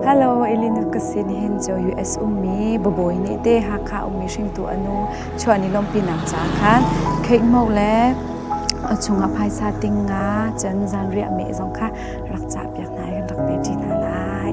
Hello, Elena ka sin hin cho US ummi Babawi nih te Hakha ummi hringtu anu chuan i lompi nang ca khan Kate Mo le a chungah phaisa ting nga cun zanriah me zong kha rak cah piak hna i rak pe ṭi hna lai.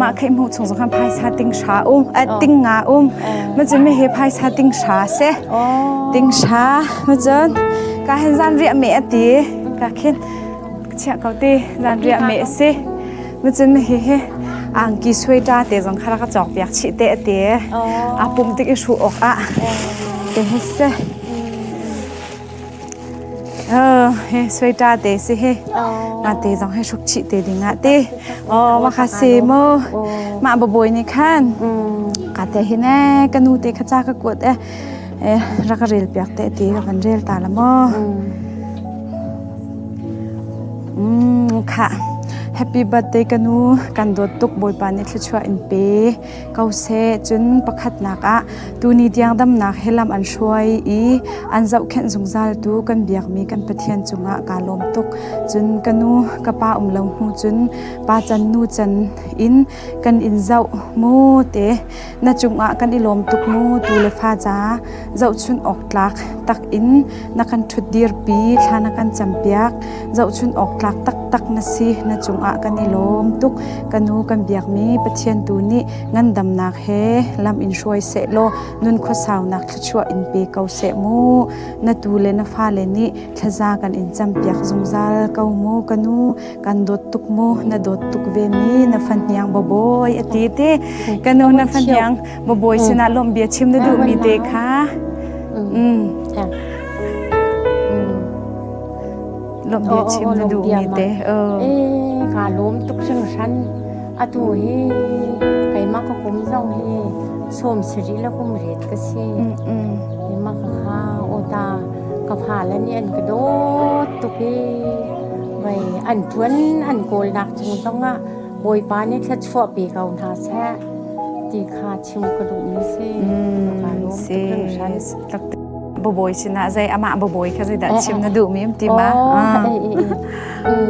mah kha i hmuh chung zong khan phaisa ting hra um eh ting nga um ma cun mi hi phaisa ting hra se ting hra ma cun ka hen zan riah me a ti ka khin chiah ko ti zan riah me a si ma cun mi hi hi angki suai ta te zong kha ka chok piak chi te a ti a pum tik i ru awk ah te he se Oh, he suita te si hi. Nga te zong he hruk chi te ding ah ti. Oh, ma kha si mu. Ma baboi ni khan. Ka te hi ne ka nu te kha cha ka kuat e. E ra ka rel piak te ti ka van rel ta la mo. Mm, kha. Happy birthday kanu kan dot tuk boipa ni thluchua in pe. ko seh. Cun pakhatnak ah tuni tiang damnak he lam an hruai i an zohkhenh zungzal tu kan biakmi kan Pathian cungah kaa lawm tuk. Cun ka nu ka pa um lo hnu cun pa can nu can in kan in zoh mu te na cungah kan i lawm tuk mu tu le fa ca zohchunh awk tlak tak in na kan ṭhut dirpi, thla na kan campiak, zohchunh awk tlak taktak na si, na cungah kan i lawm tuk. Ka nu kan biakmi Pathian tu nih ngandamnak he lam in hruai seh law nun khuasaunak thluachuah in pe ko seh mu. Na tu le na fale nih thlaza kan in campiak zungzal ko mu ka nu. kan dawt tuk mu na dawt tuk ve mi na fan hniang babawi a ti ti kan u na fan hniang babawi sinah lawm bia chim na duh mi te kha mm lawm bia chim na duh mi te eh ka lawm tuk sing shan atu hi kaima ka kum zong hi som siri la kum ret ka si ima ka kha ota ka pha la ni an ka dawt tuk hi mei an ṭuan an kawlnak cung zongah Bawipa nih thluachuahpi ko hna seh ti kha chim ka duhmi si. Ka lawm tuk bawi sinah zei amah bawi kha zeidah chim na duhmi ti ma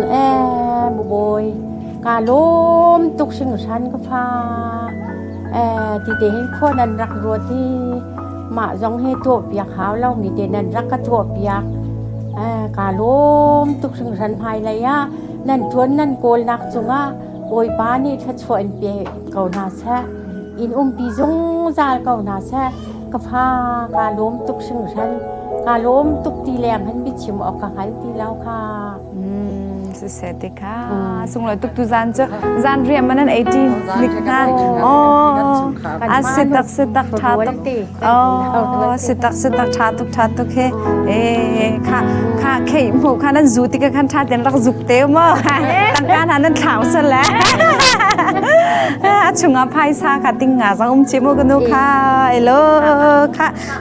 e bawi ka lawm tuk hringhran ka fa e ti te hin khua nan rak ruat i Mah zong hi tuahpiak hau lomi tein nan rak ka tuahpiak. Eh, kaa lawm tuk hringhran hmailei ah nan ṭuan nan kawlnak cungah Bawipa nih thluachuah in pe ko hna seh. In umpi zungzal ko hna seh. Ka fa kaa lawm tuk hringhran. Kaa lawm tuk ti leng hin biachim awk ka hngal ti lo kha. siseh ti kha sunglawi tuk tu zan cu zan riam manan 18 lik na oh a sitak sitak tha tuk oh sitak sitak tha tuk tha tuk he e kha kha khei mu kha nan zu ti ka khan tha ten rak zuk te mo tangka na nan thlau sa la a chunga phai sa kha tinga sang um chi mu kanu kha elo kha